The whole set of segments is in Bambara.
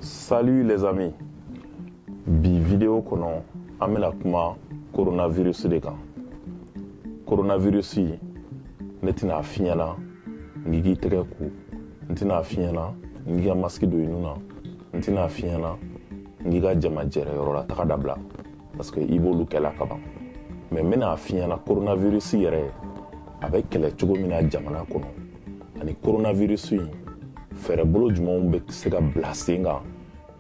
Salut les amis. Bi vidéo kɔnɔ an bɛna kuma coronavirus de kan. Coronavirus ne tɛna a f'i ɲɛna n k'i k'i tɛgɛ ko n tɛna a f'i ɲɛna n k'i ka masiki don i nun na n tɛna a f'i ɲɛna n k'i ka jama jɛrɛ yɔrɔ la taga dabila parce que i b'olu kɛla ka ban mɛ n bɛna a f'i ɲɛna coronavirus yɛrɛ a bɛ kɛlɛ cogo min na jamana kɔnɔ ani coronavirus in fɛɛrɛbolo jumɛnw bɛ se ka bila sen kan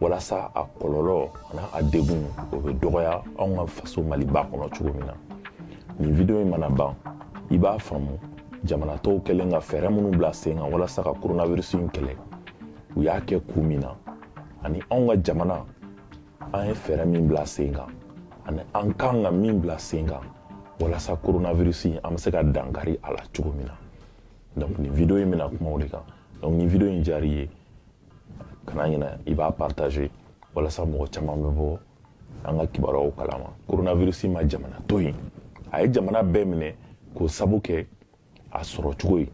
walasa a kɔlɔlɔ ani a degun o bɛ dɔgɔya anw ka faso maliba kɔnɔ cogo min na nin video in mana ban i b'a faamu jamana tɔw kɛlen ka fɛɛrɛ minnu bila sen kan walasa ka coronavirus in kɛlɛ u y'a kɛ kun min na ani anw ka jamana an ye fɛɛrɛ min bila sen kan ani an ka kan ka min bila sen kan walasa coronavirus in an bɛ se ka dankari a la cogo min na donc nin video in bɛna kuma o de kan donc ni video in diyar'i ye kana ɲinɛ i b'a partager walasa mɔgɔ caman bɛ bɔ an ka kibaruyaw kalama coronavirus ma jamana to yen a ye jamana bɛɛ minɛ k'o sabu kɛ a sɔrɔ cogo ye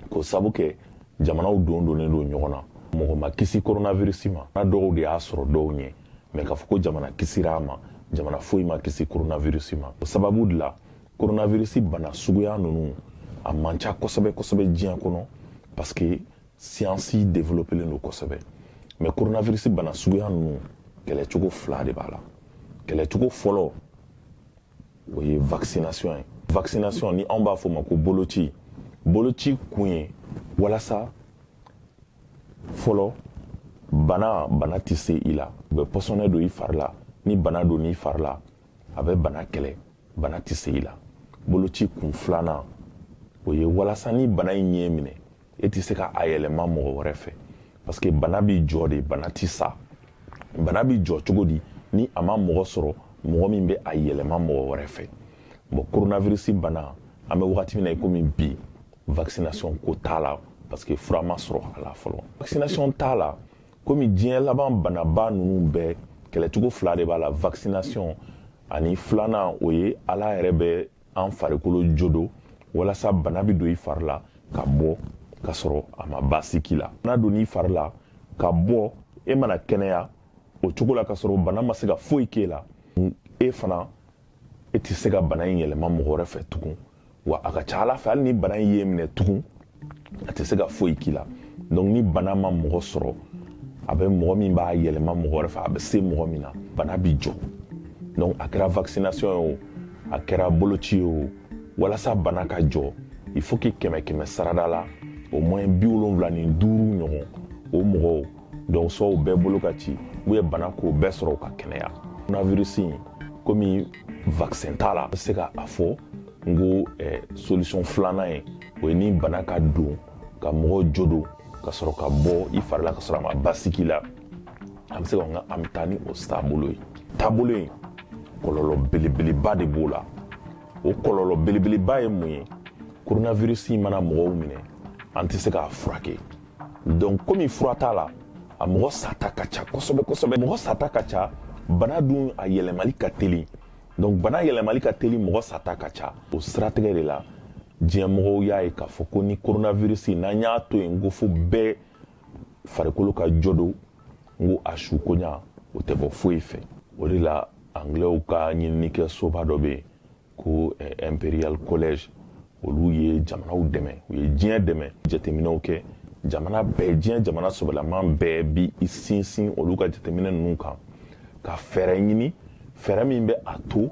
k'o sabu kɛ jamanaw dondonnen don ɲɔgɔn na mɔgɔ ma kisi koronavirisi ma dɔw de y'a sɔrɔ dɔw ɲɛ mɛ k'a fɔ ko jamana kisira a ma jamana foyi ma kisi koronavirisi ma o sababu de la koronavirisi bana suguya ninnu a man ca kosɛbɛ kosɛbɛ diɲɛ kɔnɔ parce que siyansi developelen don kosɛbɛ mɛ koronavirisi bana suguya ninnu kɛlɛcogo fila de b'a la kɛlɛcogo fɔlɔ o ye vaccination ye vaccination ni anw b'a fɔ o ma ko boloci boloci kun ye walasa fɔlɔ bana bana tɛ se i la u bɛ pɔsɔnɛ don i fari la ni bana donn'i fari la a bɛ bana kɛlɛ bana tɛ se i la boloci kun filanan o ye walasa ni bana in y'e minɛ e tɛ se ka a yɛlɛma mɔgɔ wɛrɛ fɛ parce que bana b'i jɔ de bana tɛ sa bana b'i jɔ cogo di ni a ma mɔgɔ sɔrɔ mɔgɔ min bɛ a yɛlɛma mɔgɔ wɛrɛ fɛ bon coronavirus bana an bɛ wagati min na i komi bi vaccination ko t'a la parce que fura ma sɔrɔ a la fɔlɔ vaccination t'a la komi diɲɛ laban banaba ninnu bɛɛ kɛlɛcogo fila de b'a la vaccination ani filanan o ye ala yɛrɛ bɛ an farikolo jo don walasa bana bɛ don i fari la ka bɔ ka sɔrɔ a ma baasi k'i la bana donn'i fari la ka bɔ e mana kɛnɛya o cogo la ka sɔrɔ bana ma se ka foyi k'e la e fana e tɛ se ka bana in yɛlɛma mɔgɔ wɛrɛ fɛ tugun wa a ka ca a la fɛ hali ni bana in y'i minɛ tugun a tɛ se ka foyi k'i la donc ni bana ma mɔgɔ sɔrɔ a bɛ mɔgɔ min b'a yɛlɛma mɔgɔ wɛrɛ fɛ a bɛ se mɔgɔ min na bana bi jɔ donc a kɛra vaccination ye o a kɛra boloci ye o walasa bana ka jɔ il faut que kɛmɛ kɛmɛ sarada la au moins bi wolonwula ni duuru ɲɔgɔn o mɔgɔw donc soit u bɛɛ bolo ka ci ou bien bana k'u bɛɛ sɔrɔ u ka kɛnɛya coronavirus in komi vaccin t'a la a bɛ se ka a fɔ n ko eh, solution filanan ye o ye ni bana ka don ka mɔgɔw jo don ka sɔrɔ ka bɔ i fari la ka sɔrɔ a ma baasi k'i la an bɛ se ka nka an bɛ taa ni o taabolo ye taabolo in kɔlɔlɔ belebeleba de b'o la o kɔlɔlɔ belebeleba ye mun ye coronavirus mana mɔgɔw minɛ an tɛ se k'a furakɛ donc komi fura t'a la a mɔgɔ sata ka ca kosɛbɛ kosɛbɛ mɔgɔ sata ka ca bana dun a yɛlɛmali ka teli donc bana yɛlɛmali ka teli mɔgɔ sata ka ca o siratigɛ de la diɲɛmɔgɔw y'a ye k'a fɔ ko ni coronavirus n'an y'a to yen n ko fo bɛɛ farikolo ka jɔ don n ko a su caya o tɛ bɔ foyi fɛ o de la anglɛw ka ɲininikɛ soba dɔ bɛ yen ko eh, imperial college olu ye jamanaw dɛmɛ u ye diɲɛ dɛmɛ jateminɛw kɛ jamana bɛɛ diɲɛ jamana sɔbɛlaman bɛɛ b'i sinsin olu ka jateminɛ ninnu kan ka fɛɛrɛ ɲini fɛɛrɛ min bɛ a to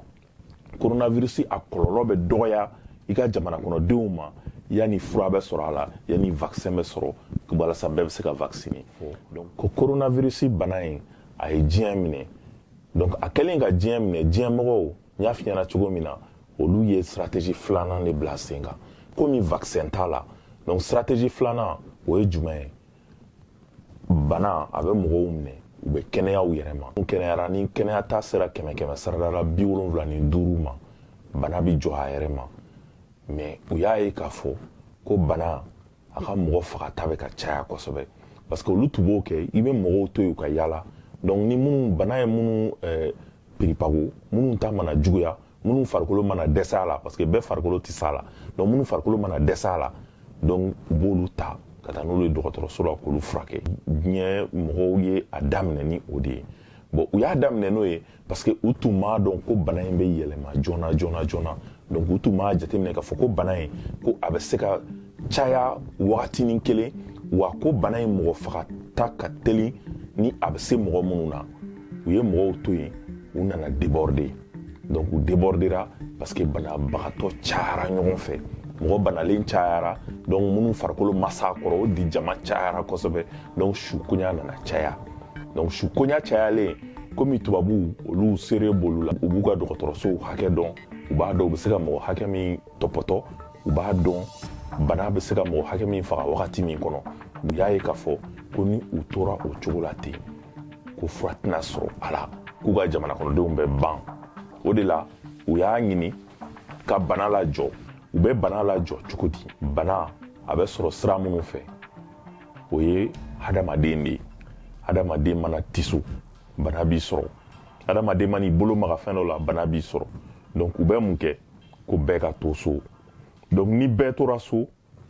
coronavirus a kɔlɔlɔ bɛ dɔgɔya i ka jamana kɔnɔdenw ma yanni fura bɛ sɔrɔ a la yanni vaccin bɛ sɔrɔ walasa bɛɛ bɛ se ka vacciner donc ko coronavirus bana in a ye diɲɛ minɛ donc a kɛlen ka diɲɛ minɛ diɲɛ mɔgɔw n y'a f'i ɲɛna cogo min na olu ye stratégie filanan de bila sen kan komi vaccin t'a la donc stratégie filanan o ye jumɛn ye bana a bɛ mɔgɔw minɛ u bɛ kɛnɛya u yɛrɛ ma n'u kɛnɛyara ni kɛnɛyata sera kɛmɛ kɛmɛ sarada la bi wolonwula ni duuru ma bana bɛ jɔ a yɛrɛ ma mais u y'a ye k'a fɔ ko bana a ka mɔgɔ fagata bɛ ka caya kosɛbɛ parce que olu tun b'o kɛ i bɛ mɔgɔw to yen u ka yaala donc ni minnu bana ye minnu eh, piripago minnu ta mana juguya minnu farikolo mana dɛsɛ a la parce que bɛɛ farikolo tɛ s'a la donc minnu farikolo mana dɛsɛ a la donc u b'olu ta ka taa n'olu ye dɔgɔtɔrɔso la k'olu furakɛ diɲɛ mɔgɔw ye a daminɛ ni o de ye bon u y'a daminɛ n'o ye parce que u tun m'a dɔn ko bana in bɛ yɛlɛma joona joona joona donc u tun m'a jateminɛ k'a fɔ ko bana in ko a bɛ se ka caya wagatinin kelen wa ko bana in mɔgɔ fagata ka teli ni a bɛ se mɔgɔ minnu na u ye mɔgɔw to yen u nana déborder donc u debordera parce que banabagatɔ cayara ɲɔgɔn fɛ mɔgɔ banalen cayara donc minnu farikolo ma s'a kɔrɔ o de jama cayara kosɛbɛ donc su koɲa nana caya donc su koɲa cayalen komi tubabuw olu sere b'olu la u b'u ka dɔgɔtɔrɔsow hakɛ dɔn u b'a dɔn u bɛ se ka mɔgɔ hakɛ min tɔpɔtɔ u b'a dɔn bana bɛ se ka mɔgɔ hakɛ min faga wagati min kɔnɔ u y'a ye k'a fɔ ko ni u tora o cogo la ten ko fura tɛna sɔrɔ a la k'u ka jamana kɔnɔdenw bɛ ban o de la u y'a ɲini ka bana lajɔ u bɛ bana lajɔ cogo di bana a bɛ sɔrɔ sira minnu fɛ o ye hadamaden de ye hadamaden mana tiso bana b'i sɔrɔ hadamaden man'i bolo maga fɛn dɔ la bana b'i sɔrɔ donc u bɛ mun kɛ ko bɛɛ ka to so donc ni bɛɛ tora so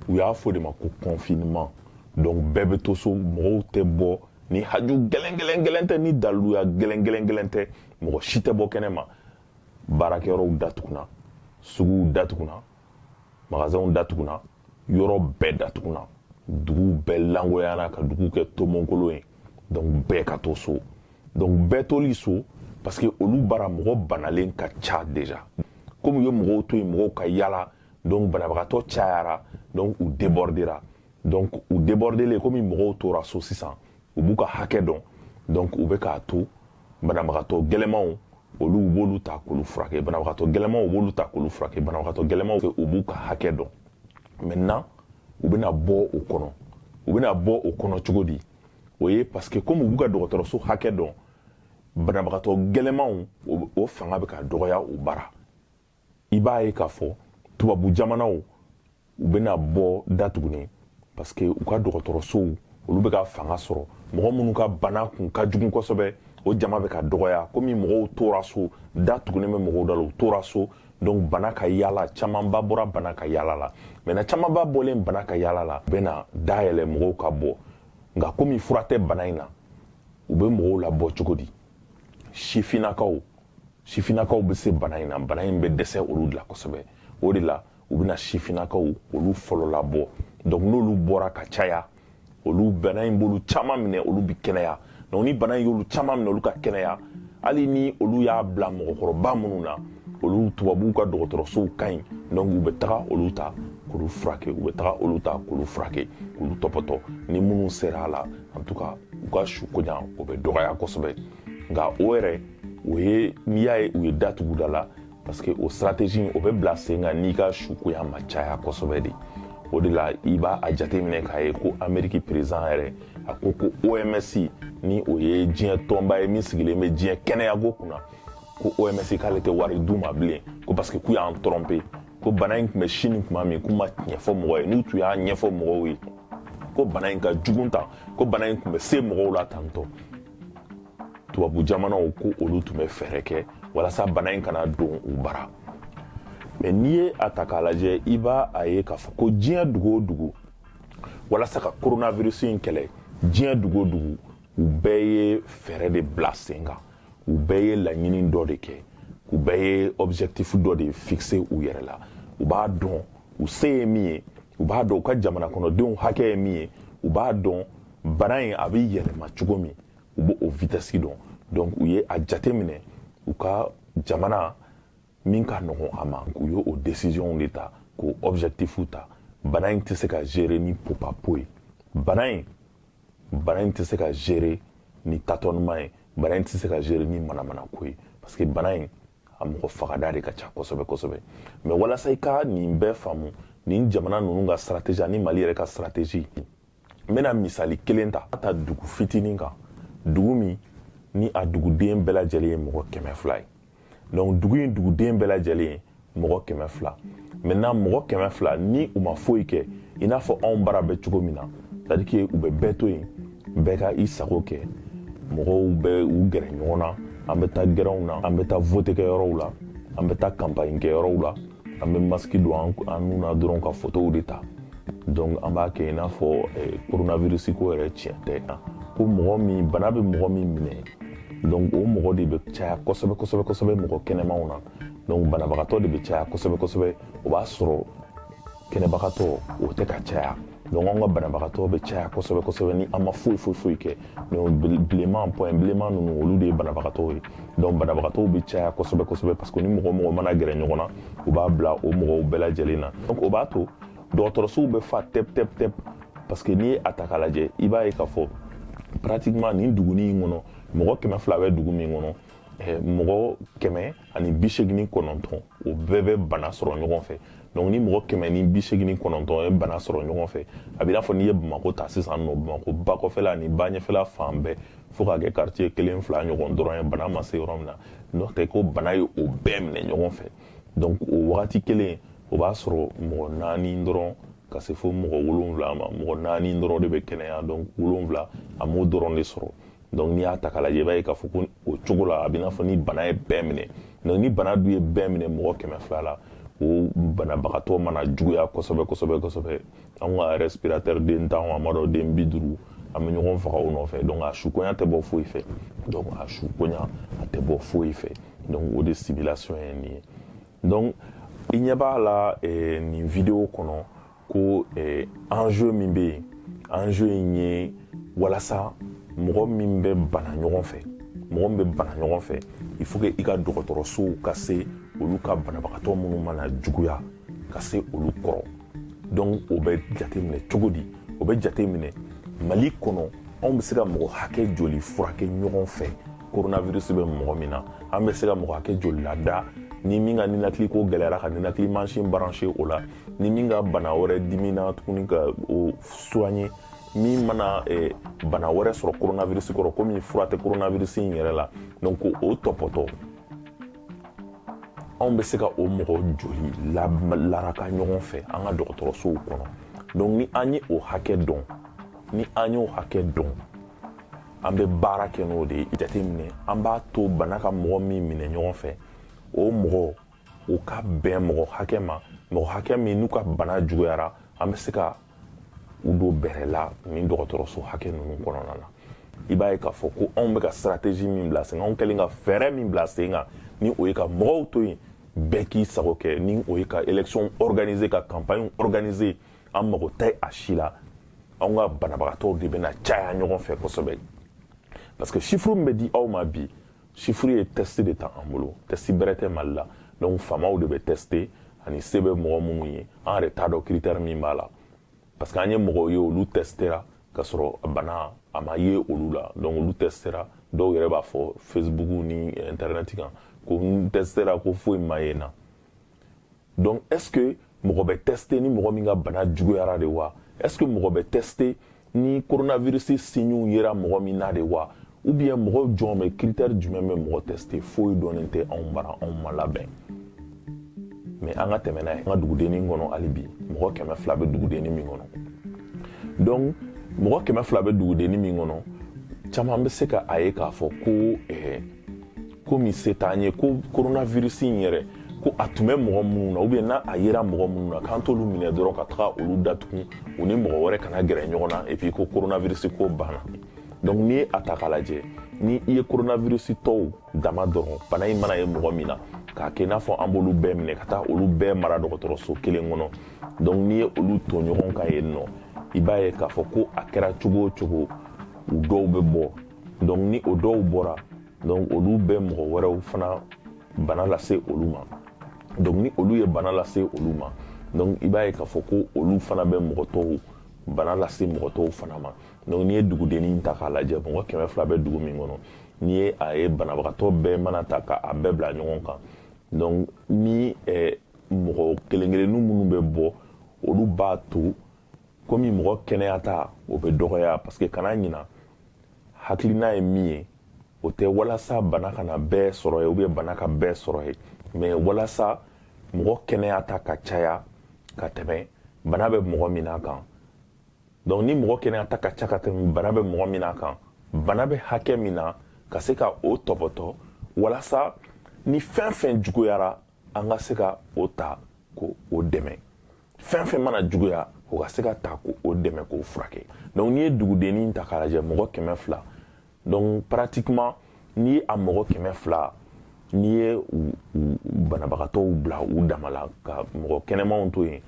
u y'a f'o de ma ko confinement donc bɛɛ bɛ to so mɔgɔw tɛ bɔ ni haju gɛlɛn gɛlɛn gɛlɛn tɛ ni daliluya gɛlɛn gɛlɛn gɛlɛn tɛ mɔgɔ si tɛ bɔ kɛnɛ ma baarakɛyɔrɔw datugunna suguw datugunna magasinw datugunna yɔrɔ bɛɛ datugunna duguw bɛɛ lankolonyana ka duguw kɛ tomonkolon ye donc bɛɛ ka to so donc bɛɛ toli so parce que olu bara mɔgɔ banalen ka ca déjà komi u ye mɔgɔw to yen mɔgɔw ka yala donc banabagatɔ cayara donc u debordera donc u debordelen komi mɔgɔw tora so sisan u b'u ka hakɛ dɔn donc u bɛ k'a to banabagatɔ gɛlɛmanw olu u b'olu ta k'olu furakɛ banabagatɔ gɛlɛmanw u b'olu ta k'olu furakɛ banabagatɔ gɛlɛmanw u b'u ka hakɛ dɔn maintenant u bɛna bɔ o kɔnɔ u bɛna bɔ o kɔnɔ cogo di o ye parce que komi u b'u ka dɔgɔtɔrɔso hakɛ dɔn banabagatɔ gɛlɛmanw o fanga bɛ ka dɔgɔya u bara i b'a ye k'a fɔ tubabu jamanaw u bɛna bɔ datuguni parce que u ka dɔgɔtɔrɔsow olu bɛ ka fanga sɔrɔ mɔgɔ minnu ka bana kun ka jugu kosɛbɛ o jama bɛ ka dɔgɔya komi mɔgɔw tora so da tugunen bɛ mɔgɔw da la u tora so donc bana ka yaala camanba bɔra bana ka yaala la maintenant camanba bɔlen bana ka yaala la u bɛna da yɛlɛ mɔgɔw ka bɔ nka komi fura tɛ bana in na u bɛ mɔgɔw labɔ cogo di sifinnakaw sifinnakaw bɛ se bana in na bana in bɛ dɛsɛ olu de la kosɛbɛ o de la u bɛna sifinnakaw olu fɔlɔ labɔ donc n'olu bɔra ka caya olu bana in b'olu caman minɛ olu bɛ kɛnɛya donc ni bana in y'olu caman minɛ olu ka kɛnɛya hali ni olu y'a bila mɔgɔkɔrɔba minnu na olu tubabuw ka dɔgɔtɔrɔsow ka ɲi donc u bɛ taga olu ta k'olu furakɛ u bɛ taga olu ta k'olu furakɛ k'olu tɔpɔtɔ ni minnu sera a la an bɛ to ka u ka su koɲa o bɛ dɔgɔya kosɛbɛ nka o yɛrɛ o ye n'i y'a ye u ye da tugu da la parce que o stratégie o bɛ bila sen kan n'i ka su koɲa ma caya kosɛbɛ de o de la i b'a a jateminɛ k'a ye ko ameriki perezan yɛrɛ a ko ko oms ni o ye diɲɛ tɔnba ye min sigilen bɛ diɲɛ kɛnɛyako kunna ko oms k'ale tɛ wari d'u ma bilen ko parce que k'u y'an trompé ko bana in tun bɛ sini tuma min k'u ma tiɲɛ fɔ mɔgɔ ye n'u tun y'a ɲɛfɔ mɔgɔw ye ko bana in ka jugu tan ko bana in tun bɛ se mɔgɔw la tan tɔ tubabu jamanaw ko olu tun bɛ fɛɛrɛ kɛ walasa bana in kana don u bara mais n'i ye a ta k'a lajɛ i b'a a ye k'a fɔ ko diɲɛ dugu o dugu walasa ka coronavirus in kɛlɛ diɲɛ dugu o dugu u bɛɛ ye fɛɛrɛ de bila sen kan u bɛɛ ye laɲini dɔ de kɛ u bɛɛ ye objectif dɔ de fixé u yɛrɛ la u b'a dɔn u se ye min ye u b'a dɔn u ka jamana kɔnɔdenw hakɛ ye min ye u b'a dɔn bana in a bɛ yɛlɛma cogo min u b'o o vitɛsi dɔn donc u ye a jateminɛ u ka jamana min ka nɔgɔn a ma u ye o décision de ta k'o objectif ta bana in tɛ se ka gérer ni popapo ye bana in bana in tɛ se ka gérer ni tâtonnement ye bana in tɛ se ka gérer ni manamanako ye parce que bana in a mɔgɔ fagata de ka ca kosɛbɛ kosɛbɛ mais walasa i ka nin bɛɛ faamu nin jamana ninnu ka stratégie ani mali yɛrɛ ka stratégie n bɛna misali kelen ta ta dugu fitinin kan dugu min ni a duguden bɛɛ lajɛlen ye mɔgɔ kɛmɛ fila ye donc dugu in duguden bɛɛ lajɛlen ye mɔgɔ kɛmɛ fila maintenant mɔgɔ kɛmɛ fila ni u ma foyi kɛ i n'a fɔ anw bara bɛ cogo min na c'est à dire que u bɛ bɛɛ to yen bɛɛ ka i sago kɛ mɔgɔw bɛ u gɛrɛ ɲɔgɔn na an bɛ taa gɛrɛnw na an bɛ taa vote kɛ yɔrɔw la an bɛ taa kanpaɲi kɛ yɔrɔw la an bɛ masiki don an nun na dɔrɔn ka fotow de ta donc an b'a kɛ i n'a fɔ coronavirus ko yɛrɛ tiɲɛ tɛ ko mɔgɔ min bana bɛ mɔgɔ min minɛ donc o mɔgɔ de bɛ caya kosɛbɛ kosɛbɛ kosɛbɛ mɔgɔ kɛnɛmanw na donc banabagatɔ de bɛ caya kosɛbɛ kosɛbɛ o b'a sɔrɔ kɛnɛbagatɔ o tɛ ka caya donc an ka banabagatɔ bɛ caya kosɛbɛ kosɛbɛ ni an ma foyi foyi foyi kɛ donc bilenman point bilenman ninnu olu de ye banabagatɔw ye donc banabagatɔw bɛ caya kosɛbɛ kosɛbɛ parce que ni mɔgɔ mɔgɔ mana gɛrɛ ɲɔgɔn na u b'a bila o mɔgɔw bɛɛ lajɛlen na donc o b'a to dɔgɔtɔrɔsow bɛ fa tɛp tɛp tɛp parce que n'i ye a ta k'a lajɛ i b'a ye k'a fɔ pratiquement nin duguni in kɔnɔ mɔgɔ kɛmɛ fila bɛ dugu min kɔnɔ eh, mɔgɔ kɛmɛ ani bi seegin ni kɔnɔntɔn o bɛɛ bɛ bana sɔrɔ ɲɔgɔn fɛ donc ni mɔgɔ kɛmɛ ni bi seegin ni kɔnɔntɔn ye bana sɔrɔ ɲɔgɔn fɛ a b'i n'a fɔ n'i ye bamako ta sisan nɔ bamako ba kɔfɛla ni ba ɲɛfɛla fan bɛɛ fo k'a kɛ quartier kelen fila ɲɔgɔn dɔrɔn ye bana ma se yɔrɔ min na n'o tɛ ko bana ye o bɛɛ minɛ ɲɔgɔn fɛ donc o wagati kelen o b'a sɔrɔ mɔgɔ naani dɔrɔn ka se fo mɔgɔ wolonwula ma mɔgɔ naani dɔrɔn de bɛ kɛnɛya donc wolonwula a m'o dɔrɔn de sɔrɔ donc n'i y'a ta k'a lajɛ i b'a ye k'a fɔ ko o cogo la a b'i n'a fɔ ni bana ye bɛɛ minɛ donc ni bana dun ye bɛɛ minɛ mɔgɔ kɛmɛ fila la o banabagatɔ mana juguya kosɛbɛ kosɛbɛ kosɛbɛ an ka respirateur den tan an b'a dɔn den bi duuru an bɛ ɲɔgɔn faga o nɔfɛ donc a sukonya tɛ bɔ foyi fɛ donc a sukonya a tɛ bɔ foyi fɛ donc o de simulation ye nin ye donc i ɲɛ b'a la eh, nin video kɔnɔ ko eh, enjeu min bɛ yen enjeu in ye walasa mɔgɔ min bɛ bana ɲɔgɔn fɛ mɔgɔ min bɛ bana ɲɔgɔn fɛ il faut que i ka dɔgɔtɔrɔsow ka se olu ka banabagatɔ minnu mana juguya ka se olu kɔrɔ donc o bɛ jateminɛ cogo di o bɛ jateminɛ mali kɔnɔ anw bɛ se ka mɔgɔ hakɛ joli furakɛ ɲɔgɔn fɛ coronavirus bɛ mɔgɔ min na an bɛ se ka mɔgɔ hakɛ joli lada ni min ka ninakili ko gɛlɛyara ka ninakili mansin brancher o la ni min ka bana wɛrɛ dimina tuguni ka o soigner min mana eh, bana wɛrɛ sɔrɔ coronavirus kɔrɔ komi fura tɛ coronavirus in yɛrɛ la donc ko o tɔpɔtɔ anw bɛ se ka o mɔgɔ joli la, laraka ɲɔgɔn fɛ an ka dɔgɔtɔrɔsow kɔnɔ donc ni an ye o hakɛ dɔn ni an y'o hakɛ dɔn an bɛ baara kɛ n'o de ye jateminɛ an b'a to bana ka mɔgɔ min minɛ ɲɔgɔn fɛ o mɔgɔ o ka bɛn mɔgɔ hakɛ ma mɔgɔ hakɛ min n'u ka bana juguyara an bɛ se ka u don bɛrɛ la nin dɔgɔtɔrɔso hakɛ ninnu kɔnɔna na i b'a ye k'a fɔ ko anw bɛ ka stratégie min bila sen kan anw kɛlen ka fɛɛrɛ min bila sen kan ni o ye ka mɔgɔw to yen bɛɛ k'i sago kɛ ni o ye ka élection organiser ka campagne organiser an mago tɛ a si la anw ka banabagatɔw de bɛna caya ɲɔgɔn fɛ kosɛbɛ parce que chiffre min bɛ di aw ma bi chiffre ye tɛsti de t'an bolo tɛsti bɛrɛ tɛ mali la donc faamaw de bɛ tɛste ani se bɛ mɔgɔ minnu ye an yɛrɛ t'a dɔn critère min b'a la parce que an ye mɔgɔw ye olu tɛstera ka sɔrɔ bana a ma ye olu la donc olu tɛstera dɔw yɛrɛ b'a fɔ facebook ni internet kan ko n tɛstera ko foyi ma ye n na donc est ce que mɔgɔ bɛ teste ni mɔgɔ min ka bana juguyara de wa est ce que mɔgɔ bɛ teste ni coronavirus signew yera mɔgɔ min na de wa ou bien mɔgɔ jɔn bɛ critère jumɛn bɛ mɔgɔ teste foyi dɔnnen tɛ anw bara anw ma labɛn mais an ka tɛmɛ n'a ye an ka dugudennin kɔnɔ hali bi mɔgɔ kɛmɛ fila bɛ dugudennin min kɔnɔ donc mɔgɔ kɛmɛ fila bɛ dugudennin min kɔnɔ caman bɛ se ka a ye k'a fɔ ko ɛɛ eh, ko min se t'an ye ko coronavirus in yɛrɛ ko a tun bɛ mɔgɔ minnu na ou bien n'a a yera mɔgɔ minnu na k'an t'olu minɛ dɔrɔn ka taga olu datugu u ni mɔgɔ wɛrɛ kana gɛrɛ ɲɔgɔn na et puis ko coronavirus ko banna donc n'i ye a ta k'a lajɛ ni i ye coronavirustɔw dama dɔrɔn bana in mana ye mɔgɔ min na k'a kɛ i n'a fɔ an b'olu bɛɛ minɛ ka taa olu bɛɛ mara dɔgɔtɔrɔso kelen kɔnɔ donc n'i ye olu to ɲɔgɔn kan yen nɔ i b'a ye k'a fɔ ko a kɛra cogo o cogo u dɔw bɛ bɔ donc ni o dɔw bɔra donc olu bɛ mɔgɔ wɛrɛw fana bana lase olu ma donc ni olu ye bana lase olu ma donc i b'a ye k'a fɔ ko olu fana bɛ mɔgɔ tɔw bana lase mɔgɔ tɔw fana ma donc n'i ye dugudennin ta k'a lajɛ mɔgɔ kɛmɛ fila bɛ dugu min kɔnɔ n'i ye a ye banabagatɔ bɛɛ mana ta ka a bɛɛ bila ɲɔgɔn kan donc ni eh, mɔgɔ kelen kelennu minnu bɛ bɔ olu b'a to komi mɔgɔ kɛnɛyata o bɛ dɔgɔya parce que kana ɲina hakilina ye min ye o tɛ walasa bana kana bɛɛ sɔrɔ ye ou bien bana ka bɛɛ sɔrɔ ye mais walasa mɔgɔ kɛnɛya ta ka caya ka tɛmɛ bana bɛ mɔgɔ min na kan donc ni mɔgɔ kɛnɛya ta ka ca ka tɛmɛ bana bɛ mɔgɔ min na kan bana bɛ hakɛ min na ka se ka o tɔpɔtɔ walasa ni fɛn fɛn juguyara an ka se ka o ta k'o dɛmɛ fɛn fɛn mana juguya o ka se ka ta k'o dɛmɛ k'o furakɛ donc n'i ye dugudennin ta k'a lajɛ mɔgɔ kɛmɛ fila donc pratiquement n'i ye a mɔgɔ kɛmɛ fila n'i ye banabagatɔw bila u dama la ka mɔgɔ kɛnɛmanw to yen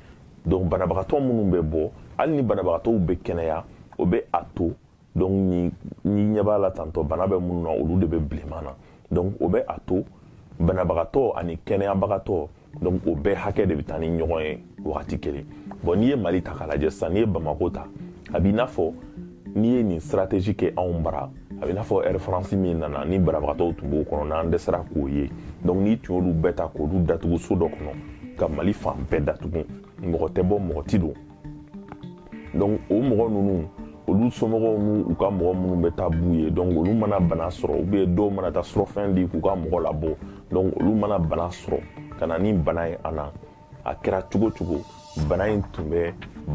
donc banabagatɔ minnu bɛ bɔ hali ni banabagatɔw bɛ kɛnɛya o bɛ a to donc n'i ɲɛ b'a la tantɔ bana bɛ minnu na olu de bɛ bilenman na donc o bɛ a to banabagatɔ ani kɛnɛyabagatɔ donc o bɛɛ hakɛ de bɛ taa ni ɲɔgɔn ye wagati kelen bon n'i ye mali ta k'a lajɛ sisan n'i ye bamako ta a b'i n'a fɔ n'i ye nin stratégie kɛ anw bara a b'i n'a fɔ air france min nana ni banabagatɔw tun b'o kɔnɔ n'an dɛsɛra k'o ye donc n'i tun y'olu bɛɛ ta k'olu datugu so dɔ kɔnɔ ka mali fan bɛɛ datugu mɔgɔ tɛ bɔ mɔgɔ ti don donc o mɔgɔ ninnu olu somɔgɔw n'u ka mɔgɔ minnu bɛ taa b'u ye donc olu mana bana sɔrɔ u bɛ dɔw mana taa surɔfɛn di k'u ka mɔgɔ labɔ donc olu mana bana sɔrɔ ka na ni bana ye a na a kɛra cogo cogo bana in tun bɛ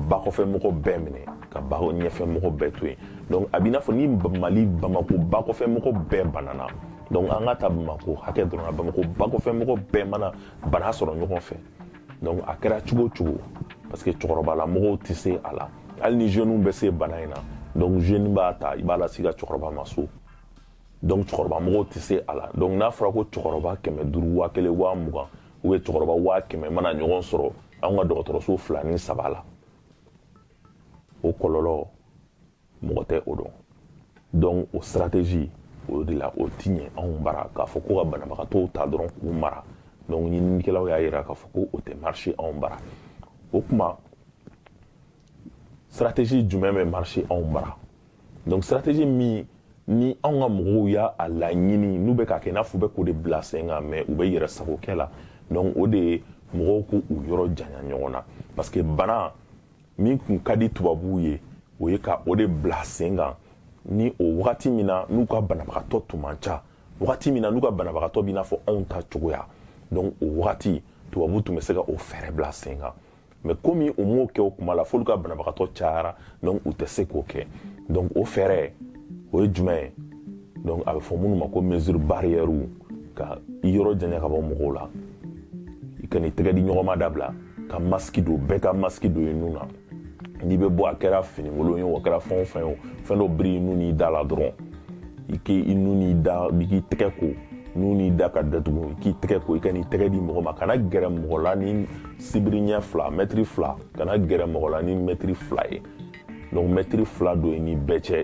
bakɔfɛ mɔgɔ bɛɛ minɛ ka baɲɛfɛ mɔgɔ bɛɛ to yen donc a b'i n'a fɔ ni mali bamako bakɔfɛ mɔgɔ bɛɛ banana donc an ka ta bamako hakɛ dɔrɔn na bamako bakɔfɛ mɔgɔ bɛɛ mana bana sɔrɔ ɲɔgɔn fɛ donc a kɛra cogo cogo parce que cɛkɔrɔbala mɔgɔw tɛ se a la hali ni jeunes bɛ se bana in na donc jeune b'a ta i b'a lase i ka cɛkɔrɔba ma so donc cɛkɔrɔba mɔgɔw tɛ se a la donc n'a fɔra ko cɛkɔrɔba kɛmɛ duuru waa kelen waa mugan u bɛ cɛkɔrɔba waa kɛmɛ mana ɲɔgɔn sɔrɔ anw ka dɔgɔtɔrɔso fila ni saba la o kɔlɔlɔ mɔgɔ tɛ o dɔn donc o stratégie o de la o ti ɲɛ anw bara k'a fɔ ko ka banabagatɔw ta dɔrɔn k'u mara donc ɲininikɛlaw y'a yira k'a fɔ ko o tɛ marché anw bara o kuma stratégie jumɛn bɛ marché anw bara donc stratégie min ni anw ka mɔgɔw y'a a laɲini n'u bɛ k'a kɛ n'a fɔ u bɛ k'o de bila sen kan mɛ u bɛ yɛrɛ sagokɛ la donc o de ye mɔgɔw k'u yɔrɔ janya ɲɔgɔn na parce que bana min tun ka di tubabuw ye o ye ka o de bila sen kan ni o wagati min na n'u ka banabagatɔ tun man ca wagati min na n'u ka banabagatɔ b'i n'a fɔ anw ta cogoya donc o wagati tubabu tun bɛ se ka o fɛɛrɛ bila sen kan mɛ komi u m'o kɛ o kuma la f'olu ka banabagatɔ cayara donc u tɛ se k'o kɛ donc o fɛɛrɛ o ye jumɛn ye donc a bɛ fɔ minnu ma ko mesure barrière ka i yɔrɔ janya ka bɔ mɔgɔw la i kan'i tɛgɛ di ɲɔgɔn ma dabila ka masiki don bɛɛ ka masiki don i nun na n'i bɛ bɔ a kɛra finikolon ye o a kɛra fɛn o fɛn ye o fɛn dɔ biri i nun n'i da la dɔrɔn i k'i i nun n'i da i k'i tɛgɛ ko nun n'i da ka datugu k'i tɛgɛ ko i kan'i tɛgɛ di mɔgɔ ma kana gɛrɛ mɔgɔ la ni sibiri ɲɛ fila mɛtiri fila kana gɛrɛ mɔgɔ la ni mɛtiri fila ye donc mɛtiri fila don i ni bɛɛ cɛ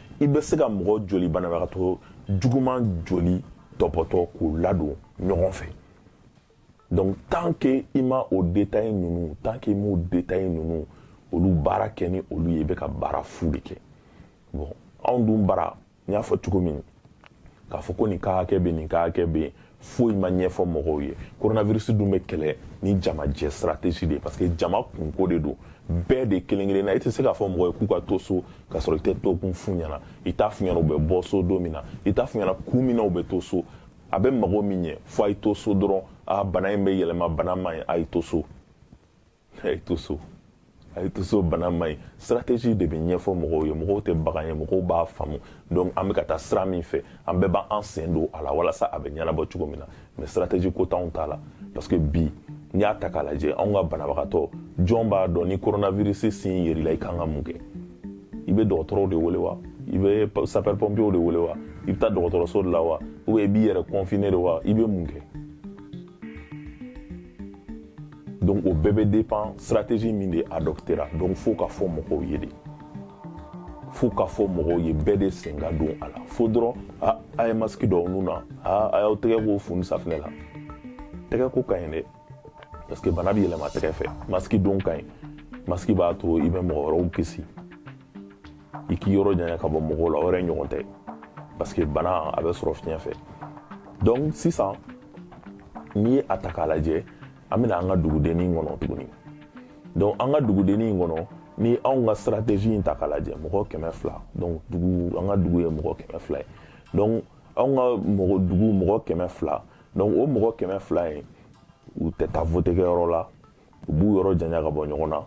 i bɛ se ka mɔgɔ joli banabagatɔ juguman joli tɔpɔtɔ k'u ladon ɲɔgɔn fɛ donc tant que i ma o détail ninnu tant que i m'o détail ninnu olu baara kɛ ni olu ye i bɛ ka baara fu de kɛ bon anw dun bara n y'a fɔ cogo min k'a fɔ ko nin ka hakɛ bɛ nin ka hakɛ bɛ yen foyi ma ɲɛfɔ mɔgɔw ye coronavirus dun bɛ kɛlɛ ni jamajɛ stratégie de ye parce que jama kunko de don bɛɛ de kelen kelenna i tɛ se k'a fɔ mɔgɔ ye k'u ka to so k'a sɔrɔ i tɛ to kun f'u ɲɛna i t'a f'u ɲɛna u bɛ bɔ so don min na i t'a f'u ɲɛna kun min na u bɛ to so a bɛ mago min ɲɛ fo a y'i to so dɔrɔn a bana in bɛ yɛlɛma bana man ɲi a y'i to so a ye to so a ye to so bana man ɲi stratégie de bɛ ɲɛfɔ mɔgɔw ye mɔgɔw tɛ bagan ye mɔgɔw b'a faamu donc an bɛ ka taa sira min fɛ an bɛɛ b'an sen don a la walasa a bɛ ɲɛnabɔ cogo min na mais stratégie ko t'anw ta la parce que bi n'i y'a ta k'a lajɛ anw ka banabagatɔ jɔn b'a dɔn ni coronavirus signe yer'i la i kan ka mun kɛ i bɛ dɔgɔtɔrɔw de wele wa i bɛ sapeur pompiers de wele wa i bɛ taa dɔgɔtɔrɔso de la wa ou bien i b'i yɛrɛ confiner de wa i bɛ mun kɛ donc o bɛɛ bɛ dépend stratégie min de adoptera donc fo k'a fɔ mɔgɔw ye de fo k'a fɔ mɔgɔw ye bɛɛ de sen ka don a la fo dɔrɔn a a ye masiki don aw nun na a a y'aw tɛgɛ ko funu safinɛ la tɛgɛ ko ka ɲi dɛ parce que bana bɛ yɛlɛma tɛgɛ fɛ masiki don ka ɲi masiki b'a to i bɛ mɔgɔ wɛrɛw kisi i k'i yɔrɔ janya ka bɔ mɔgɔw la o yɛrɛ ɲɔgɔn tɛ parce que bana a bɛ sɔrɔ fiɲɛ fɛ donc sisan n'i ye a ta k'a lajɛ an bɛ na an ka dugudennin in kɔnɔ tuguni donc an ka dugudennin in kɔnɔ ni anw ka stratégie in ta k'a lajɛ mɔgɔ kɛmɛ fila donc dugu an ka dugu ye mɔgɔ kɛmɛ fila ye donc anw ka mɔgɔ dugu mɔgɔ kɛmɛ fila donc o mɔgɔ kɛmɛ fila in u tɛ taa vote kɛyɔrɔ la u b'u yɔrɔ janya ka bɔ ɲɔgɔn na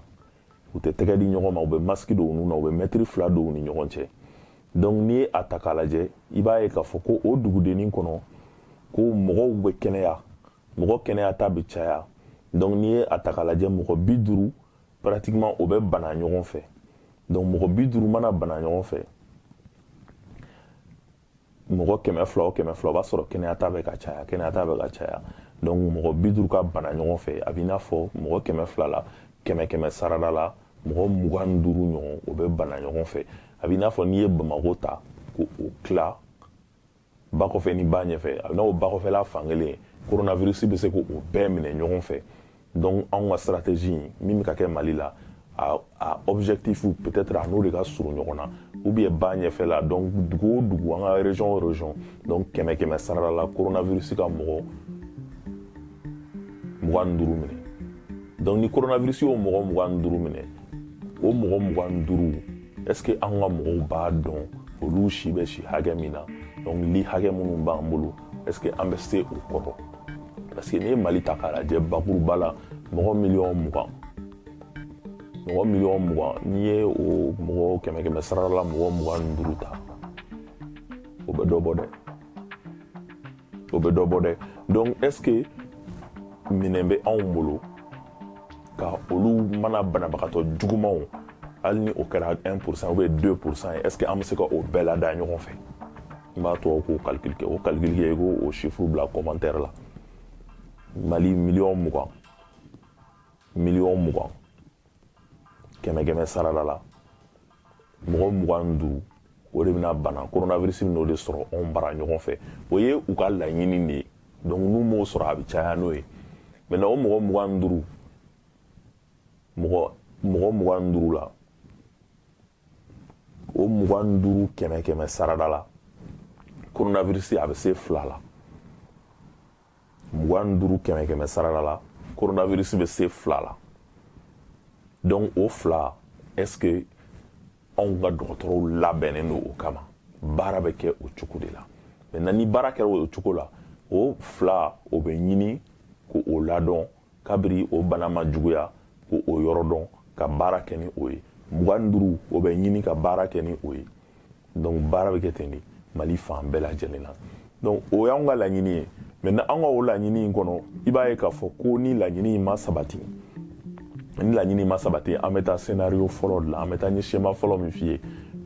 u tɛ tɛgɛ di ɲɔgɔn ma u bɛ masiki don u nun na u bɛ mɛtiri fila don u ni ɲɔgɔn cɛ donc n'i ye a ta k'a lajɛ i b'a ye k'a fɔ ko o dugudennin kɔnɔ ko mɔgɔw bɛ kɛnɛya mɔgɔ kɛnɛya ta bɛ caya donc n'i ye a ta k'a lajɛ mɔgɔ bi duuru pratiquement o bɛ bana ɲɔgɔn fɛ donc mɔgɔ bi duuru mana bana ɲɔgɔn fɛ mɔgɔ kɛmɛ fila o kɛmɛ fila o b'a sɔrɔ kɛnɛya ta bɛ ka caya kɛnɛya ta bɛ ka caya donc mɔgɔ bi duuru ka bana ɲɔgɔn fɛ a b'i n'a fɔ mɔgɔ kɛmɛ fila la kɛmɛ kɛmɛ sarada la mɔgɔ mugan ni duuru ɲɔgɔn o bɛ bana ɲɔgɔn fɛ a b'i n'a fɔ n'i ye bamako ta k'o tila ba kɔfɛ ni ba ɲɛfɛ a b'i n'a fɔ ba kɔfɛla fankelen coronavirus bɛ se k'o bɛɛ minɛ ɲɔgɔn fɛ donc anw ka stratégie in min bɛ ka kɛ mali la a, a objectif peut-être a n'o de ka surun ɲɔgɔn na ou bien ba ɲɛfɛla donc dugu o dugu an ka région o région donc kɛmɛ kɛmɛ sarada la coronavirus ka mɔgɔ mugan ni duuru minɛ donc ni coronavirus y'o mɔgɔ mugan ni duuru minɛ o mɔgɔ mugan ni duuru est ce que an ka mɔgɔw b'a dɔn olu si bɛ si hakɛ min na donc lit hakɛ minnu b'an bolo est ce que an bɛ se o kɔrɔ parce que n'i ye mali ta k'a lajɛ bakuruba la mɔgɔ miliyɔn mugan mɔgɔ miliyɔn mugan n'i ye o mɔgɔ kɛmɛ kɛmɛ sarada la mɔgɔ mugan ni duuru ta o bɛ dɔ bɔ dɛ o bɛ dɔ bɔ dɛ donc est ce que minɛn bɛ anw bolo ka olu mana banabagatɔ jugumanw hali ni o kɛra 1 pourcent ou bien 2 pourcent ye est ce que an bɛ se ka o bɛɛ lada ɲɔgɔn fɛ n b'a tɔgɔ ko calcul kɛ o calcul kɛ i k'o chiffre bila commentaire la mali miliyɔn mugan miliyɔn mugan kɛmɛ kɛmɛ sarada la mɔgɔ mugan ni duuru o de bɛna bana coronavirus bɛna o de sɔrɔ anw bara ɲɔgɔn fɛ o ye u ka laɲini de ye donc n'u m'o sɔrɔ a bɛ caya n'o ye maintenant o mɔgɔ mugan ni duuru mɔgɔ mɔgɔ mugan ni duuru la o mugan ni duuru kɛmɛ kɛmɛ sarada la coronavirus a bɛ se fila la mugan ni duuru kɛmɛ kɛmɛ sarada la coronavirus bɛ se fila la donc o fila est ce que anw ka dɔgɔtɔrɔw labɛnnen don o kama baara bɛ kɛ o cogo de la maintenant ni baara kɛra o cogo la o fila o bɛ ɲini k'o ladon kabiri o bana ma juguya ko o yɔrɔ dɔn ka baara kɛ ni o ye mugan ni duuru o bɛ ɲini ka baara kɛ ni o ye donc baara bɛ kɛ ten de mali fan bɛɛ lajɛlen na donc o y'anw ka laɲini ye maintenant an ka o laɲini in kɔnɔ i b'a ye k'a fɔ ko ni laɲini in ma sabati ni laɲini in ma sabati an bɛ taa scénario fɔlɔ de la an bɛ taa n ye schéma fɔlɔ min f'i ye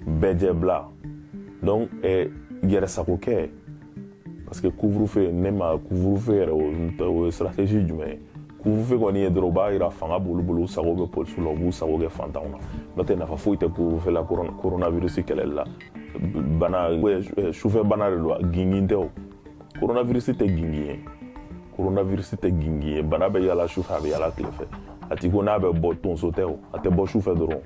bɛɛ jɛ bila donc eh, yɛrɛsagokɛ parce que couvre-feu ne ma couvre-feu yɛrɛ o ye stratégie jumɛn ye couvre-feu kɔni ye dɔrɔn u b'a yira fanga b'olu bolo u sago bɛ polisiw la u b'u sago kɛ fantanw na n'o tɛ nafa foyi tɛ couvre-feu la coronavirus kɛlɛli la bana sufɛ bana de don gingin tɛ o coronavirus tɛ gingin ye coronavirus tɛ gingin ye bana bɛ yala sufɛ a bɛ yala tile fɛ a ti ko n'a bɛ bɔ tonso tɛ o a tɛ bɔ sufɛ dɔrɔn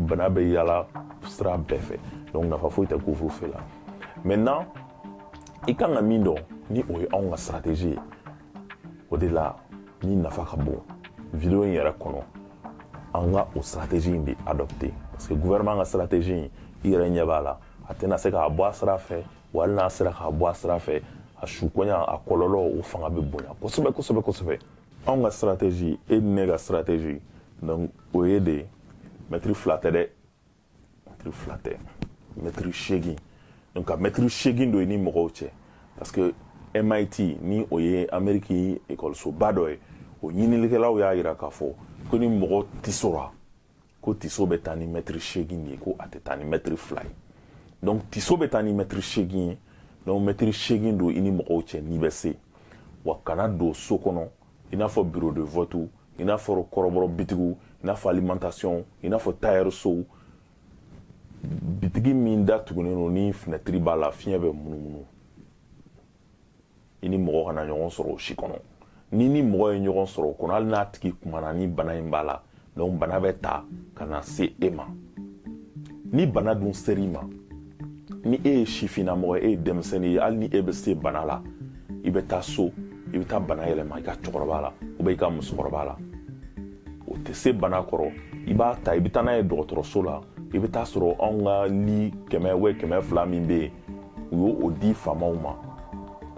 bana bɛ yala sira bɛɛ fɛ donc nafa foyi tɛ couvre-feu la maintenant i kan ka min dɔn ni o ye anw ka stratégie ye o de la min nafa ka bon video in yɛrɛ kɔnɔ an ka o stratégie in de adopter parce que gouvernement ka stratégie in i yɛrɛ ɲɛ b'a la a tɛna se k'a bɔ a sira fɛ wa hali n'a sera k'a bɔ a sira fɛ a sukoɲa a kɔlɔlɔ o fanga bɛ bonya kosɛbɛ kosɛbɛ kosɛbɛ anw ka stratégie e ni ne ka stratégie donc o ye de mɛtiri fila tɛ dɛ mɛtiri fila tɛ mɛtiri seegin donc ka mɛtiri seegin don i ni mɔgɔw cɛ parce que mit ni o ye ameriki ekɔlisoba dɔ ye o ɲinilikɛlaw y'a yira k'a fɔ ko ni mɔgɔ tisora ko tiso bɛ taa ni mɛtiri seegin de ye ko a tɛ taa ni mɛtiri fila ye donc tiso bɛ taa ni mɛtiri seegin ye donc mɛtiri seegin don i ni mɔgɔw cɛ n'i bɛ se wa kana don so kɔnɔ i n'a fɔ bureau de vote i n'a fɔ kɔrɔbɔrɔ bitigiw i n'a fɔ alimentation i n'a fɔ tailleur sow bitigi min da tugunnen don ni finɛtiri b'a la fiɲɛ bɛ munumunu i ni mɔgɔ kana ɲɔgɔn sɔrɔ o si kɔnɔ n'i ni mɔgɔ ye ɲɔgɔn sɔrɔ o kɔnɔ hali n'a tigi kumana ni bana in b'a la donc bana bɛ ta ka na se e ma ni bana dun ser'i ma ni e ye sifinnamɔgɔ e ye denmisɛnnin ye hali ni e bɛ se bana la i bɛ taa so i bɛ taa bana yɛlɛma i ka cɛkɔrɔba la ou bien i ka musokɔrɔba la o tɛ se bana kɔrɔ i b'a ta i bɛ taa n'a ye dɔgɔtɔrɔso la i bɛ taa sɔrɔ anw ka li kɛmɛ wa kɛmɛ fila min bɛ yen u y'o di faamaw ma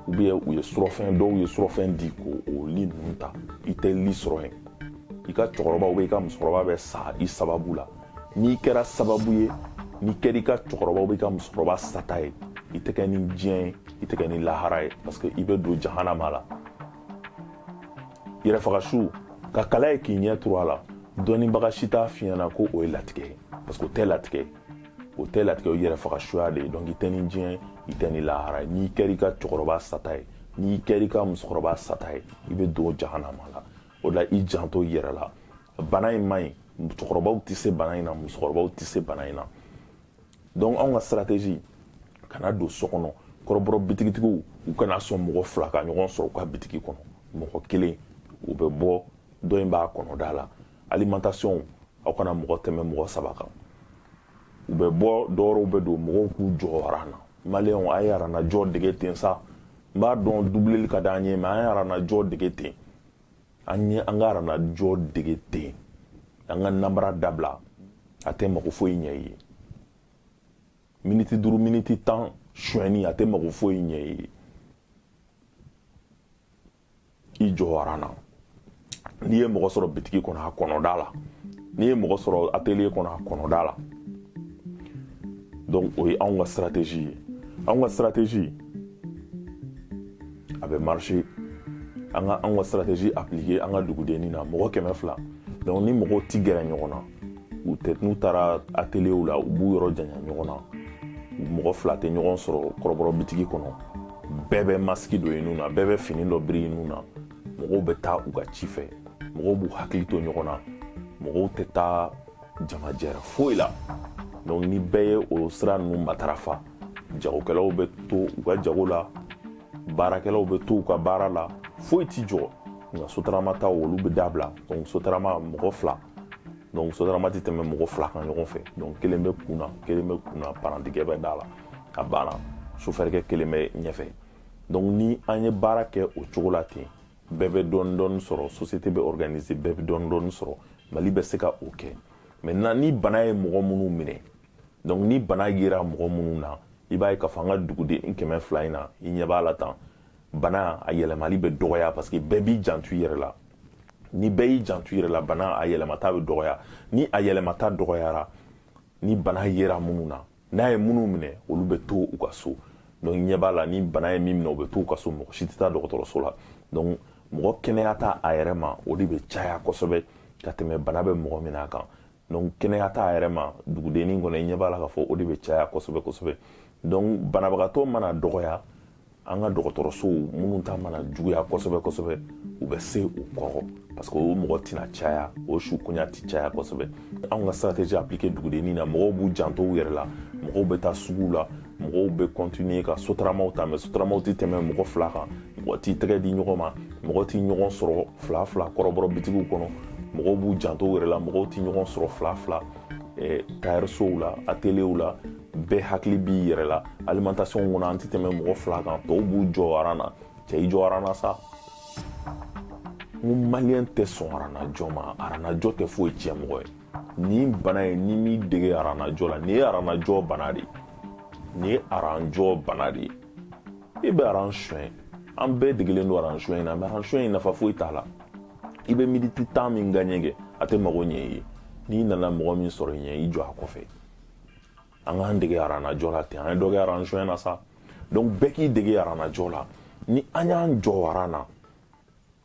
ou bien u ye surɔfɛn dɔw ye surɔfɛn di ko o li ninnu ta i tɛ li sɔrɔ yen i ka cɛkɔrɔba ou bien i ka musokɔrɔba bɛ sa i sababu la n'i kɛra sababu ye n'i kɛra i ka cɛkɔrɔba ou bien i ka musokɔrɔba sata ye i tɛ kɛ ni diɲɛ ye i tɛ kɛ ni lahara ye parce que i bɛ don jahanama la yɛrɛfagasu ka kala ye k'i ɲɛ turu a la dɔnnibaga si t'a f'i ɲɛna ko o ye latigɛ ye parce que o tɛ latigɛ ye o tɛ latigɛ o yɛrɛfagasuya de ye donc i tɛ ni diɲɛ i tɛ ni lahara ye n'i kɛra i ka cɛkɔrɔba sata ye n'i kɛra i ka musokɔrɔba sata ye i bɛ don jahanama la o la i janto i yɛrɛ la bana in man ɲi musokɔrɔbaw tɛ se bana in na musokɔrɔbaw tɛ se bana in na donc anw ka stratégie kana don so kɔnɔ kɔrɔbɔrɔ bitigitigiw u kana sɔn mɔgɔ fila ka ɲɔgɔn sɔrɔ u ka bitigi kɔnɔ mɔgɔ kelen u bɛ bɔ dɔ in b'a kɔnɔ da la alimentation aw kana mɔgɔ tɛmɛ mɔgɔ saba kan u bɛ bɔ dɔw bɛ don mɔgɔw k'u jɔ aran na mali yan a ye aranajɔ dege ten sa n b'a dɔn dubile ka di an ye mais an ye aranajɔ dege ten an ye an ka aranajɔ dege ten an ka nanbara dabila a tɛ mako foyi ɲɛ i ye miniti duuru miniti tan sonyɛni a tɛ mako foyi ɲɛ i ye i jɔ aran na n'i ye mɔgɔ sɔrɔ bitigi kɔnɔ a kɔnɔ da la n'i ye mɔgɔ sɔrɔ atelier kɔnɔ a kɔnɔ da la donc o ye anw ka stratégie ye anw ka stratégie a bɛ marcher an ka anw ka stratégie appliquer an ka dugudennin na mɔgɔ kɛmɛ fila donc ni mɔgɔw ti gɛrɛ ɲɔgɔn na u tɛ n'u taara ateliyew la u b'u yɔrɔ janya ɲɔgɔn na mɔgɔ fila tɛ ɲɔgɔn sɔrɔ kɔrɔbɔrɔ bitigi kɔnɔ bɛɛ bɛ masiki don i nun na bɛɛ bɛ fini dɔ biri i nun na mɔgɔw bɛ taa u ka ci fɛ mɔgɔw b'u hakili to ɲɔgɔn na mɔgɔw tɛ taa jamajɛrɛ foyi la donc ni bɛɛ ye o sira ninnu matarafa jagokɛlaw bɛ to u ka jago la baarakɛlaw bɛ to u ka baara la foyi t'i jɔ nka sotarama taw olu bɛ dabila donc sotarama mɔgɔ fila donc sotarama tɛ tɛmɛ mɔgɔ fila kan ɲɔgɔn fɛ donc kelen bɛ kun na kelen bɛ kun na parantikɛ bɛ da la a banna sofɛrikɛ kelen bɛ ɲɛfɛ donc ni an ye baara kɛ o cogo la ten bɛɛ bɛ dɔɔni dɔɔni sɔrɔ société bɛ organiser bɛɛ bɛ dɔɔni dɔɔni sɔrɔ mali bɛ se ka o kɛ maintenant ni bana ye mɔgɔ minnu minɛ donc ni bana yera mɔgɔ minnu na i b'a ye k'a fɔ an ka duguden kɛmɛ fila in na i ɲɛ b'a la tan bana a yɛlɛmali bɛ dɔgɔya parce que bɛɛ b'i janto i yɛrɛ la ni bɛɛ y'i janto i yɛrɛ la bana a yɛlɛmata bɛ dɔgɔya ni a yɛlɛmata dɔgɔyara ni bana yera minnu na n'a ye minnu minɛ olu bɛ to u ka so donc i ɲɛ b'a la ni bana ye min minɛ u bɛ to u ka so mɔgɔ si tɛ taa dɔgɔtɔrɔso la donc mɔgɔ kɛnɛyata a yɛrɛ ma o de bɛ caya kosɛbɛ ka tɛmɛ bana bɛ mɔgɔ min na kan donc kɛnɛyata a yɛrɛ ma dugudennin kɔnɔ i ɲɛ b'a la k'a fɔ o de bɛ caya kosɛbɛ kosɛbɛ donc banabagatɔ mana dɔgɔya an ka dɔgɔtɔrɔsow minnu ta mana juguya kosɛbɛ kosɛbɛ u bɛ se u kɔrɔ parce que o mɔgɔ tɛna caya o suguya tɛ caya kosɛbɛ an ka stratégie appliquer dugudennin na mɔgɔw b'u janto u yɛrɛ la mɔgɔw bɛ taa suguw la mɔgɔw bɛ kɔntiniye ka sotaramaw ta mɛ sotaramaw tɛ tɛmɛ mɔgɔ fila kan mɔgɔ t'i tɛgɛ di ɲɔgɔn ma mɔgɔ t'i ɲɔgɔn sɔrɔ fila fila kɔrɔbɔrɔ bitigiw kɔnɔ mɔgɔw b'u janto yɛrɛ la mɔgɔw t'i ɲɔgɔn sɔrɔ fila fila eh, tayɛrisow la ateliyew la bɛɛ hakili b'i yɛrɛ la alimentation kɔnɔ an tɛ tɛmɛ mɔgɔ fila kan tɔw b'u jɔ aran na cɛ i jɔ aran na sa n ko maliyɛn tɛ sɔn aranajɔ ma aranajɔ tɛ foyi tiɲɛ mɔgɔ ye nin bana ye n'i m'i dege aranajɔ la nin ye aranajɔ bana de ye nin ye aranajɔ bana de ye i bɛ aran suɲɛ an bɛɛ degelen don aran suɲɛ in na mɛ aran suɲɛ in nafa foyi t'a la i bɛ miniti tan min gaɲɛ kɛ a tɛ mago ɲɛ i ye n'i nana mɔgɔ min sɔrɔ i ɲɛ i jɔ a kɔfɛ an k'an dege aranajɔ la ten an ye dɔ kɛ aran suɲɛ na sa donc bɛɛ k'i dege aranajɔ la ni an y'an jɔ aran na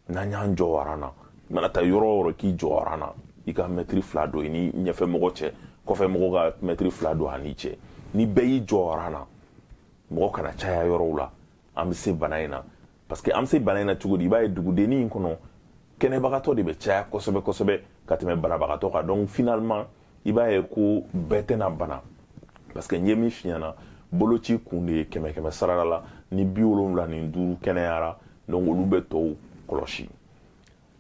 n'an y'an jɔ aran na i mana taa yɔrɔ o yɔrɔ k'i jɔ aran na i ka mɛtiri fila don i ni ɲɛfɛ mɔgɔ cɛ kɔfɛ mɔgɔ ka mɛtiri fila don a n'i cɛ ni bɛɛ y'i jɔ aran na mɔgɔ kana caya yɔrɔw la an bɛ se bana in na parce que an bɛ se bana in na cogo di i b'a ye dugudenni in kɔnɔ kɛnɛbagatɔ de bɛ caya kosɛbɛ kosɛbɛ ka tɛmɛ banabagatɔ kan donc finalement i b'a ye ko bɛɛ tɛna bana parce que n ye min f'i ɲɛ na boloci kun de ye kɛmɛ kɛmɛ sarada la ni bi wolonwula ni duuru kɛnɛyara donc olu bɛ tɔw kɔlɔsi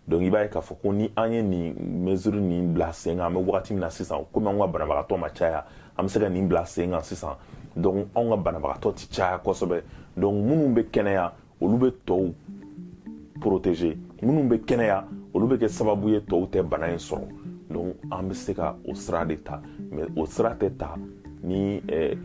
donc i b'a ye k'a fɔ ko ni an ye nin mesure nin bila sen kan an bɛ wagati min na sisan komi anw ka banabagatɔ ma caya an bɛ se ka nin bila sen kan sisan donc anw ka banabagatɔ ti caya kosɛbɛ donc minnu bɛ kɛnɛya olu bɛ tɔw protéger minnu bɛ kɛnɛya olu bɛ kɛ sababu ye tɔw tɛ bana in sɔrɔ donc an bɛ se ka o sira de ta mais o sira tɛ ta ni eh,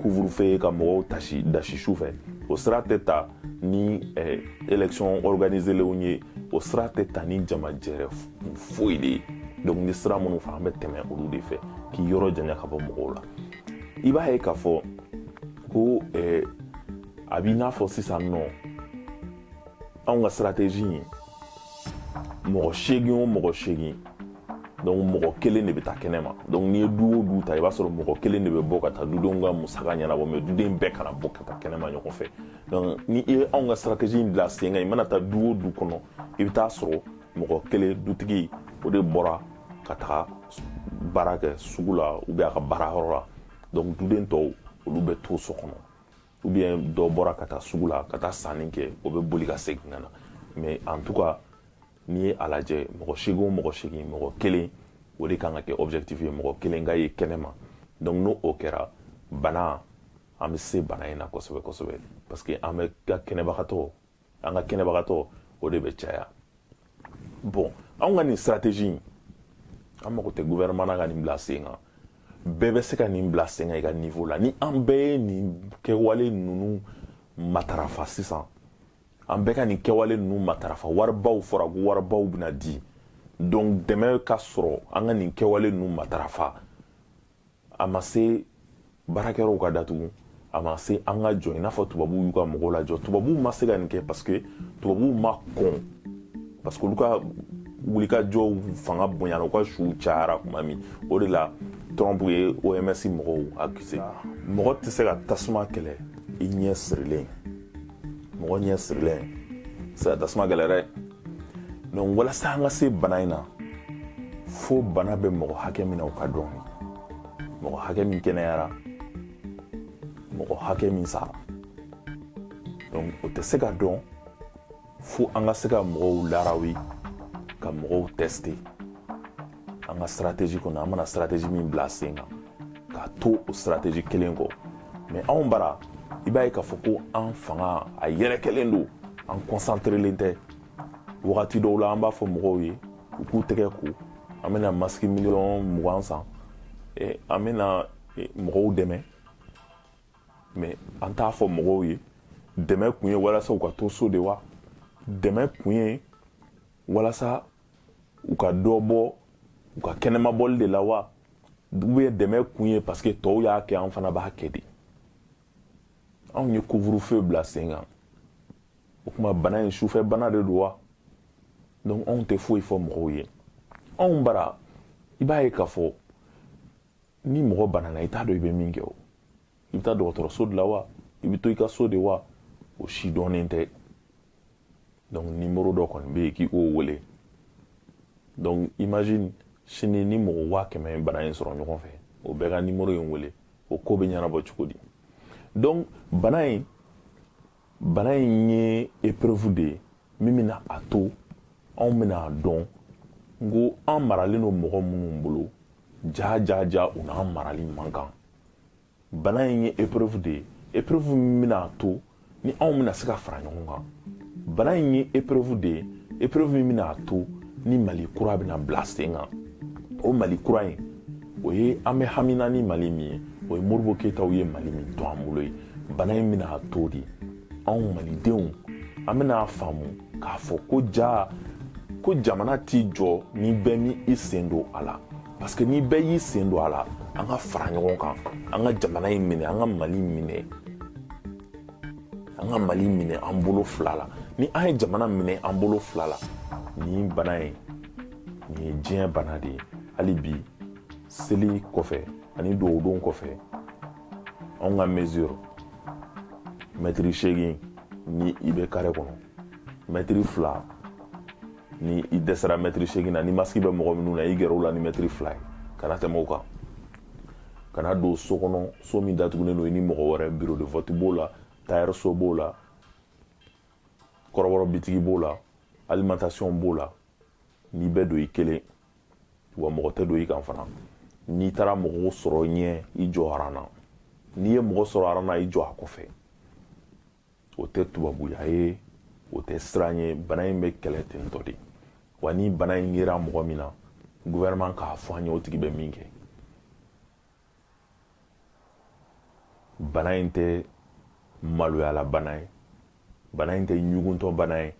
couvre-feu ye ka mɔgɔw tasi dasi su fɛ o sira tɛ ta ni eh, élection organisélenw ye o sira tɛ ta ni jamajɛrɛ foyi de ye donc n ye sira minnu fɔ an bɛ tɛmɛ olu de fɛ k'i yɔrɔ janya ka bɔ mɔgɔw la i b'a ye k'a fɔ ko eh, a b'i n'a fɔ sisan nɔ anw ka sirateji in mɔgɔ seegin o mɔgɔ seegin donc mɔgɔ kelen de bɛ taa kɛnɛ ma donc n'i ye du o du ta i b'a sɔrɔ mɔgɔ kelen de bɛ bɔ ka taa dudenw ka musaka ɲɛnabɔ mɛ duden bɛɛ kana bɔ ka taa kɛnɛ ma ɲɔgɔn fɛ donc ni i ye anw ka sirateji in bila sen kan i mana taa du o du kɔnɔ i bɛ t'a sɔrɔ mɔgɔ kelen dutigi o de bɔra ka taga baara kɛ sugu la ou bien a ka baara yɔrɔ la donc duden tɔw olu bɛ to so kɔnɔ ou bien dɔ bɔra ka taa sugu la ka taa sanni kɛ o bɛ boli ka segin ka na mais en tout cas n'i ye a lajɛ mɔgɔ seegin o mɔgɔ seegin mɔgɔ kelen o de kan ka kɛ objectif ye mɔgɔ kelen ka ye kɛnɛma donc ni o kɛra bana an bɛ se bana in na kosɛbɛ kosɛbɛ parce que an bɛ ka kɛnɛbagatɔ an ka kɛnɛbagatɔ o de bɛ caya bɔn anw ka nin sirateji in an mago tɛ guvɛrɛnman na ka nin bila sen kan bɛɛ bɛ se ka nin bila sen kan i ka nivo la ni an bɛɛ ye nin kɛwale ninnu matarafa sisan an bɛɛ ka nin kɛwale ninnu matarafa waribaw fɔra ko waribaw bɛna di donc dɛmɛ ka sɔrɔ an ka nin kɛwale ninnu matarafa a ma se baarakɛyɔrɔw ka datugu a ma se an ka jɔ i n'a fɔ tubabuw y'u ka mɔgɔw lajɔ tubabuw ma se ka nin kɛ parce que tubabuw ma kɔn parce que olu ka wulikajɔw fanga bonyana u ka suw cayara kuma min o de la trump ye oms mɔgɔw akise mɔgɔ tɛ se ka tasuma kɛlɛ i ɲɛ sirilen mɔgɔ ɲɛ sirilen tɛ tasuma kɛlɛ dɛ donc walasa an ka se bana in na fo bana bɛ mɔgɔ hakɛ min na o ka dɔn mɔgɔ hakɛ min kɛnɛyara mɔgɔ hakɛ min sara donc o tɛ se ka dɔn fo an ka se ka mɔgɔw larawi ka mɔgɔw tɛste an ka sirateji kɔnɔ an mana sirateji min bila sen kan ka to o sirateji kelen kɔ mɛ anw bara i b'a ye k'a fɔ ko an fanga a yɛrɛkɛlen don an kɔnsanterelen tɛ wagati dɔw la an b'a fɔ mɔgɔw ye u k'u tɛgɛ ko an bɛna masiki miliyɔn mugan san eh, an bɛna eh, mɔgɔw dɛmɛ mɛ an t'a fɔ mɔgɔw ye dɛmɛ kun ye walasa u ka to so de wa dɛmɛ kun ye walasa u ka dɔ bɔ u ka kɛnɛmabɔli de la wa ou bien dɛmɛ kun ye parce que tɔw y'a kɛ an fana b'a kɛ de anw ye couvre-feu bila sen kan o tuma bana in sufɛ bana de don wa donc anw tɛ foyi fɔ mɔgɔw ye anw bara i b'a ye k'a fɔ ni mɔgɔ banana i t'a dɔn i bɛ min kɛ o i bɛ taa dɔgɔtɔrɔso de la wa i bɛ to i ka so de wa o si dɔnnen tɛ donc nimoro dɔ kɔni bɛ yen k'i k'o wele donc imagine sini ni mɔgɔ waa kɛmɛ ye bana in sɔrɔ ɲɔgɔn fɛ o bɛɛ ka nimoro in wele o ko bɛ ɲɛnabɔ cogo di donc bana in bana in ye epreuve de ye min bɛna a to anw bɛna a dɔn ko an maralen don mɔgɔ minnu bolo jaa jaa jaa u n'an marali man kan bana in ye epreuve de ye epreuve min bɛna a to ni anw bɛna se ka fara ɲɔgɔn kan bana in ye epreuve de ye epreuve min bɛna a to ni mali kura bɛna bila sen kan o mali kura ye o ye an bɛ hamina ni mali min ye o ye modibo keyitaw ye mali min to an bolo ye bana in bɛna a to de anw malidenw an bɛna a faamu k'a fɔ ko ja ko jamana t'i jɔ ni bɛɛ m'i sen don a la parce que ni bɛɛ y'i sen don a la an ka fara ɲɔgɔn kan an ka jamana in minɛ an ka mali minɛ an ka mali minɛ an bolo fila la ni an ye jamana minɛ an bolo fila la nin bana ye nin ye diɲɛ bana de ye hali bi seli kɔfɛ ani dɔgɔdon kɔfɛ anw ka mesure mɛtiri seegin ni i bɛ kare kɔnɔ mɛtiri fila ni i dɛsɛra mɛtiri seegin na ni masiki bɛ mɔgɔ minnu na i gɛrɛ u la ni mɛtiri fila ye kana tɛmɛ o kan kana don so kɔnɔ so min datugulen don i ni mɔgɔ wɛrɛ bureau de vote b'o la tayɛriso b'o la kɔrɔbɔrɔ bitigi b'o la alimentation b'o la n'i bɛ don i kelen wa mɔgɔ tɛ don i kan fana n'i taara mɔgɔw sɔrɔ ɲɛ i jɔ aran na n'i ye mɔgɔ sɔrɔ aran na i jɔ a kɔfɛ o tɛ tubabuya ye o tɛ siran ye bana in bɛ kɛlɛ ten dɔrɔn de wa ni bana in yera mɔgɔ min na gouvernement k'a fɔ an ye o tigi bɛ min kɛ bana in tɛ maloyala bana ye bana in tɛ ɲuguntɔ bana ye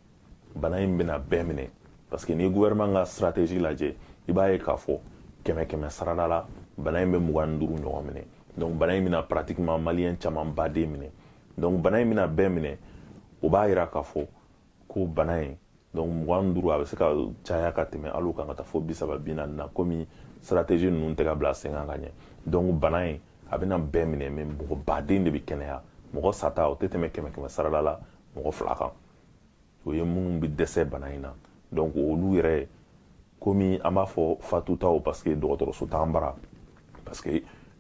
bana in bɛna bɛɛ minɛ parce que ni gouvernement ka stratégie lajɛ i b'a ye k'a fɔ kɛmɛ kɛmɛ sarada la bana in bɛ mugan ni duuru ɲɔgɔn minɛ donc bana in bɛna pratiquement maliyɛn camanba de minɛ donc bana in bɛna bɛɛ minɛ o b'a yira k'a fɔ ko bana ye donc mugan ni duuru a bɛ se ka caya ka tɛmɛ hali kan ka taa fo bi saba bi naani na komi stratégie ninnu tɛ ka bila sen kan ka ɲɛ donc bana ye a bɛna bɛɛ minɛ mais mɔgɔ baden de bɛ kɛnɛya mɔgɔ sata o tɛ tɛmɛ kɛmɛ kɛmɛ sarada la mɔgɔ fila kan o ye minnu bɛ dɛsɛ bana in na donc olu yɛrɛ komi an b'a fɔ fatutaw parce que dɔgɔtɔrɔso t'an bara parce que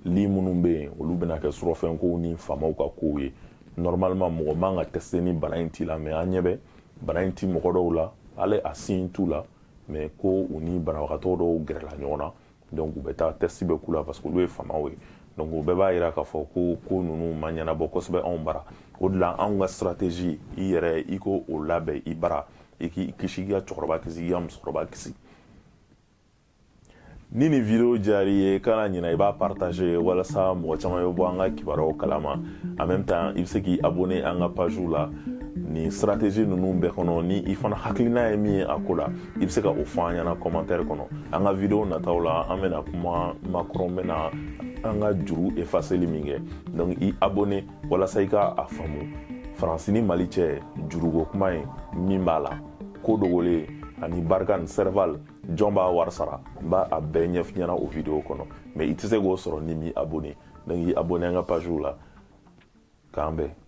lit minnu bɛ yen olu bɛna kɛ surɔfɛnkow ni faamaw ka kow ye normalement mɔgɔ man kan ka tɛsite ni bana in t'i la mais an ɲɛ bɛ bana in ti mɔgɔ dɔw la hali a signe t'u la mais ko u ni banabagatɔ dɔw gɛrɛla ɲɔgɔn na donc u bɛ taa tɛsiti bɛ k'u la parce que olu ye faamaw ye donc o bɛɛ b'a yira k'a fɔ ko ko ninnu ma ɲɛnabɔ kosɛbɛ anw bara o de la anw ka stratégie i yɛrɛ i k'o labɛn i bara i k'i kisi i ka cɛkɔrɔba kisi i ka musokɔrɔba kisi ni nin video diyara i ye kana ɲina i b'a partagé walasa mɔgɔ caman bɛ bɔ an ka kibaruyaw kalama en même temps i bɛ se k'i abonné an ka page la nin stratégie ninnu bɛɛ kɔnɔ ni i fana hakilina ye min ye a ko la i bɛ se ka o fɔ an ɲɛna commentaire kɔnɔ an ka video nataw la an bɛna kuma macron bɛna an ka juru efaseli min kɛ donc i abonné walasa i ka a faamu faransi ni mali cɛ juruko kuma ye min b'a la ko dogolen ani barkhane ni serval jɔn b'a wari sara n b'a bɛɛ ɲɛf'i ɲɛna o video kɔnɔ mɛ i tɛ se k'o sɔrɔ n'i m'i abone donc i abone an ka page la k'an bɛn